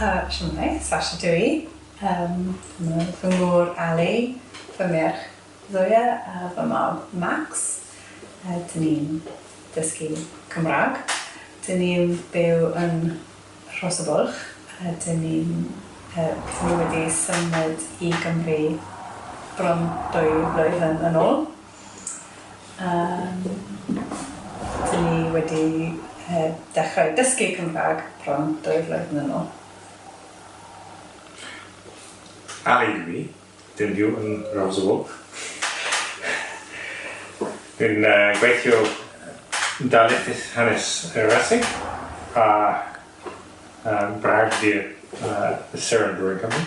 A, shwmae, Sasha dw i. Yym, ma' fy ngŵr Ali, fy merch Zoya a fy mab Max. Yy, dyn ni'n dysgu Cymraeg. Dyn ni'n byw yn Rhosybwlch a dyn ni'n, yy, dyn ni wedi symud i Gymru bron dwy flwyddyn yn ôl. Yym, dyn ni wedi dechrau dysgu Cymraeg bron dwy flwyddyn yn ôl. Ar i mi, dyn byw yn Rawswlwg. Dwi'n gweithio yn darlithydd hanes y Raseg a bragdy y Seren Dwr yn Cymru.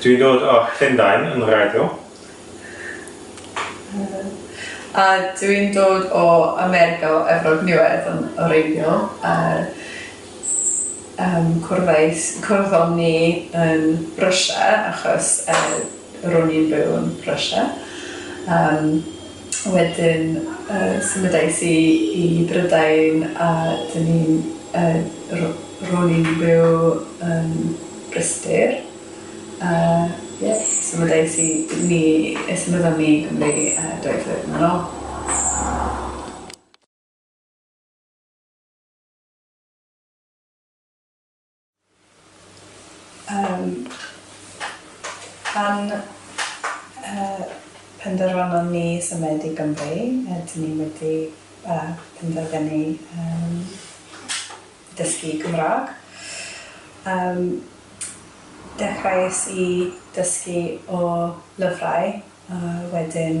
Dwi'n dod o Llundain yn wreiddiol. A dwi'n dod o America o Efrog Niwedd yn wreiddiol a yym cwrddais... cwrddon ni yn Russia achos yy ro'n i'n byw yn Russia yym. Wedyn symudais i i Brydain a dyn ni'n yy ro'n i'n byw yn Bryste a ie symudais i ni yy symudon ni i Gymru yy dwy flynedd yn ôl. Yym, pan yy penderfynon ni symud i Gymru, rydyn ni wedi yy penderfynu yym dysgu Cymraeg. Yym, dechreuais i dysgu o lyfrau a wedyn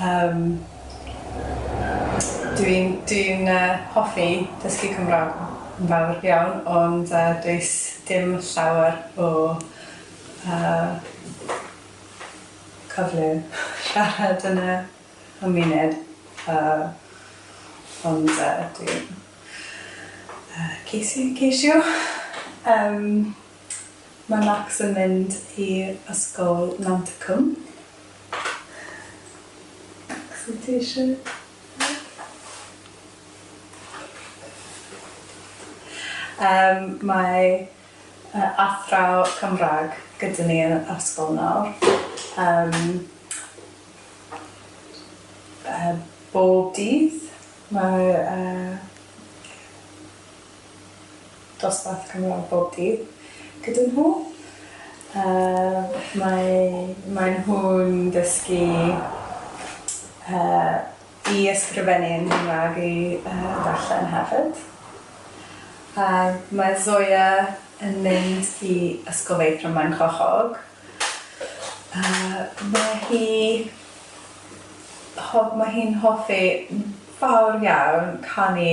Yym dwi'n dwi'n yy hoffi dysgu cymraeg yn fawr iawn ond yy does dim llawer o yy cyfle siarad yn y cymuned yy ond yy dwi'n yy ceisio ceisio yym ma' Max yn mynd i ysgol Nant y Cwm. Sut ti eisiau? Yym, mae yy athraw Cymraeg gyda ni yn yr ysgol nawr. Yym yy bob dydd mae yy dosbarth cynradd bob dydd gyda nhw. Yy mae mae nhw'n dysgu yy i ysgrifennu yn Gymra'g i yy darllen hefyd. A mae Zoya yn mynd i Ysgol Feithrin Maenclochog. Yy mae hi ho- mae hi'n hoffi fawr iawn canu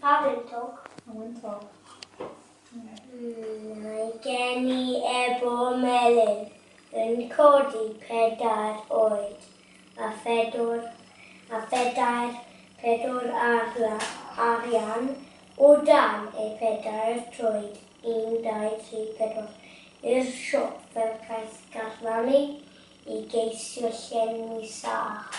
Pa wyntog? Pa wyntog? Mae gen i ebo melyn yn codi pedair oed a phedwr a phedair pedwr arla, arian o dan ei phedair troed, un, dau, tri, pedwar, i'r siop fel caeth garddani i geisio llenwi sach.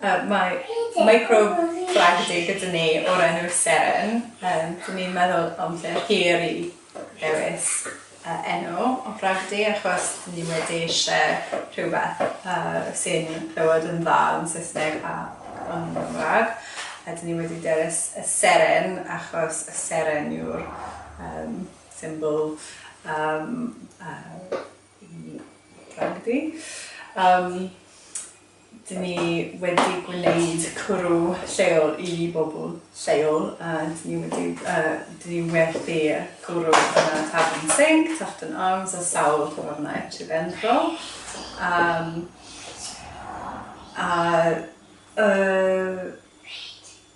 Yy mae microbe fragedy gyda ni o'r enw Seren yym dwi 'di meddwl amser hir i ddewis yy enw o fragedy achos ni wedi isie rhywbeth yy sy'n clywed yn dda yn Saesneg a yn Gymrag a 'dyn ni wedi dewis y Seren achos y Seren yw'r yym symbol yym yy Ragdy. Yym, dyn ni wedi gwneud cwrw lleol i bobl lleol a dyn ni wedi yy dyn ni werthu cwrw yn y Tavern Sink, Tufton Arms a sawl tafarnau Sir Benfro. Yym a yy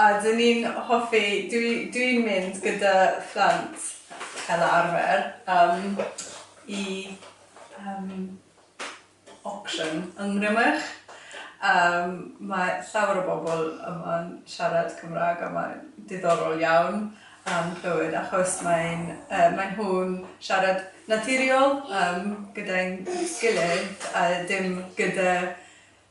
A dyn ni'n hoffi, dwi dwi'n mynd gyda phlant fel arfer yym i yym auction yng Nghrymych yym mae llawer o bobl yma'n siarad Cymrâg a mae'n diddorol iawn yym clywed achos mae'n yy maen nhw'n siarad naturiol yym gyda'n gilydd a dim gyda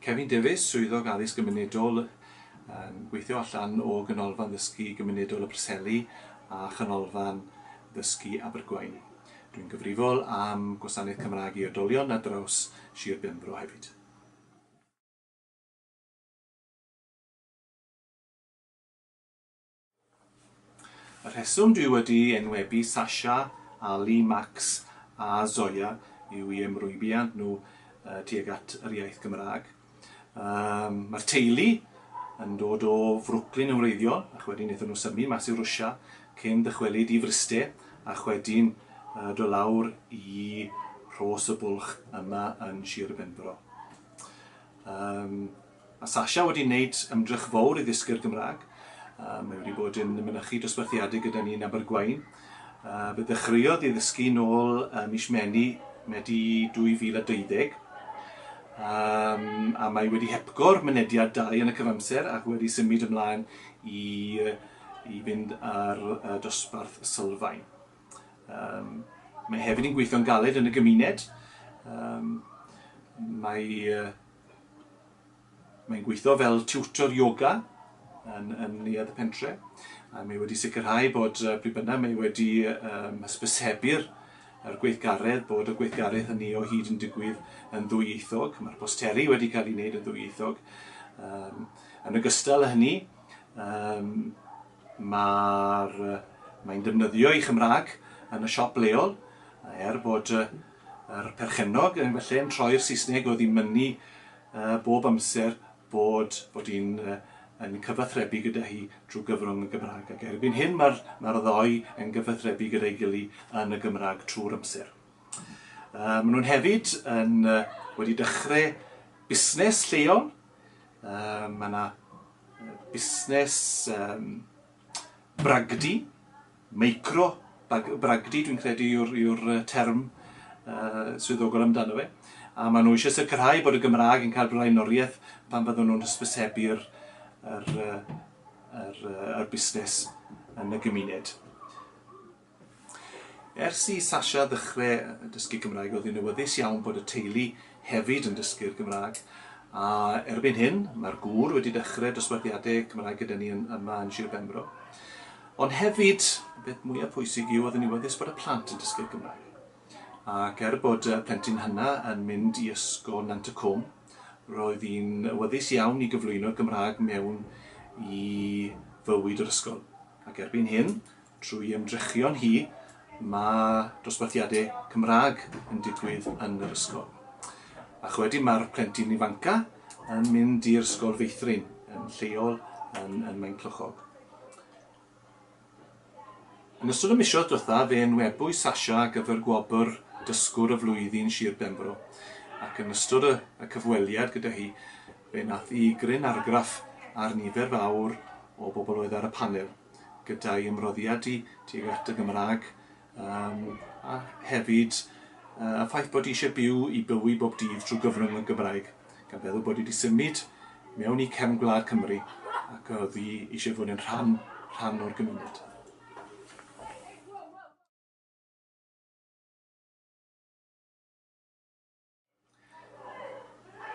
Kevin Davies, Swyddog Addysg Gymunedol, yn gweithio allan o Ganolfan Ddysgu Gymunedol y Preseli a Chanolfan Ddysgu Abergwaun. Dwi'n gyfrifol am Gwasanaeth Cymraeg i Oedolion ar draws Sir Benfro hefyd. Y rheswm dwi wedi enwebu Sasha, Ali, Max a Zoya yw i ymrwybiant nhw tuag at yr iaith Gymraeg. Um, Mae'r teulu yn dod o Frwclyn yn wreiddiol, ac wedyn wnaethon nhw symu mas i Rwsia cyn dychwelyd i Fryste, a chwedyn uh, do lawr i Rhos y Bwlch yma yn Sir Benfro. Um, Mae Sasha wedi wneud ymdrech fowr i ddysgu'r Gymraeg. Mae wedi bod yn mynychu dosbarthiadau gyda ni yn Abergwaun. Fe ddechreuodd i ddysgu nôl ym mis Meni, Medi 2020. A mae wedi hepgor mynediad dau yn y cyfamser ac wedi symud ymlaen i i fynd ar dosbarth sylfaen. Mae hefyd yn gweithio'n galed yn y gymuned. Mae Mae'n gweithio fel tiwtor ioga yn, yn neuadd y pentre. A mae wedi sicrhau bod uh, pryd bynnag mae wedi um, hysbysebu'r yr gweithgaredd bod y gweithgaredd hynny o hyd yn digwydd yn ddwyieithog. Mae'r posteri wedi cael ei wneud yn ddwyieithog. Um, yn ogystal â hynny, um, mae'r, mae'n defnyddio ei Chymraeg yn y siop leol, er bod Yr perchennog yn fy lle yn troi'r Saesneg oedd i mynnu bob amser bod bod i'n yn cyfathrebu gyda hi drwy gyfrwng y Gymraeg ac erbyn hyn mae'r mae'r ddou yn gyfathrebu gyda'i gily yn y Gymraeg trwy'r amser. Uh, maen nhw'n hefyd yn uh, wedi dechrau busnes lleol. Uh, mae yna busnes um, bragdy Micro bag- bragdy dwi'n credu yw'r yw'r yy term yy swyddogol amdano fe, a ma' nhw eisiau sicrhau bod y Gymraeg yn cael blaenoriaeth pan fyddwn nhw'n hysbysebu'r yr yy yr yy yr busnes yn y gymuned. Ers i Sasha ddechrau dysgu Cymraeg oedd hi'n awyddus iawn bod y teulu hefyd yn dysgu'r Gymraeg, a erbyn hyn mae'r gŵr wedi dechrau dosbarthiadau Cymraeg gyda ni yn yma yn Sir Benfro. Ond hefyd, y peth mwyaf pwysig yw, oedden ni'n wyddys bod y plant yn dysgu'r Gymraeg. Ac er bod y plentyn hynna yn mynd i ysgol Nant y Cwm, roedd hi'n wyddys iawn i gyflwyno'r Gymraeg mewn i fywyd yr ysgol. Ac erbyn hyn, trwy ymdrechion hi, mae dosbarthiadau Cymraeg yn digwydd yn yr ysgol. Ac wedyn mae'r plentyn ifanca yn mynd i'r ysgol feithrin yn lleol yn, yn Maenclochog. Yn ystod y misoedd diwethaf fe enwebwyd Sasha ar gyfer gwobr Dysgwr y Flwyddyn Sir Benfro ac yn ystod y y cyfweliad gyda hi fe nath i gryn argraff ar nifer fawr o bobl oedd ar y panel gyda'i ymroddiad di tuag at y Gymraeg Yym, a hefyd, yy, y ffaith bod eisiau byw i bywy bob dydd trwy gyfrwng y Gymraeg, gan feddwl bod wedi symud mewn i cefn gwlad Cymru ac oddi eisiau fod yn rhan, rhan o'r gymuned.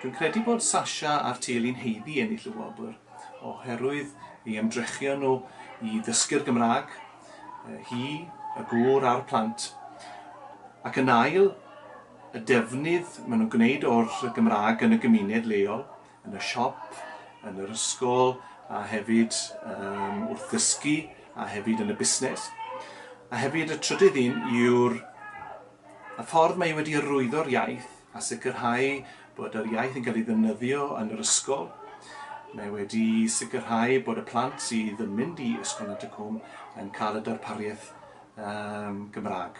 Dwi'n credu bod Sasha a'r teulu'n haeddu ennill y wobr oherwydd ei ymdrechion nhw i ddysgu'r Gymraeg, hi, y gŵr a'r plant. Ac yn ail, y defnydd maen nhw'n gwneud o'r Gymraeg yn y gymuned leol, yn y siop, yn yr ysgol a hefyd um, wrth ddysgu a hefyd yn y busnes. A hefyd y trydydd un yw'r Y ffordd mae wedi arwyddo'r iaith a sicrhau bod yr iaith yn cael ei ddefnyddio yn yr ysgol, mae wedi sicrhau bod y plant sydd yn mynd i Ysgol Nant y Cwm yn cael y darpariaeth um, Gymraeg.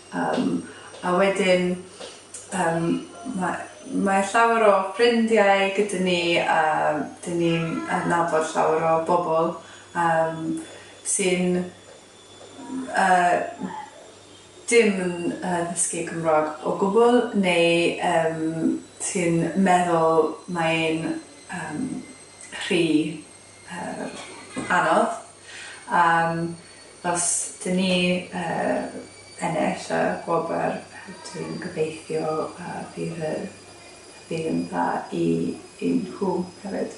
Yym a wedyn yym ma' mae llawer o ffrindiau gyda ni a 'dyn ni'n adnabod llawer o bobl yym sy'n yy dim yn yy ddysgu Cymra'g o gwbwl neu yym sy'n meddwl mae e'n yym rhy yy anodd yym os dyn ni yy ennill y gwobr dwi'n gobeithio yy bydd y bydd yn dda i i nhw hefyd.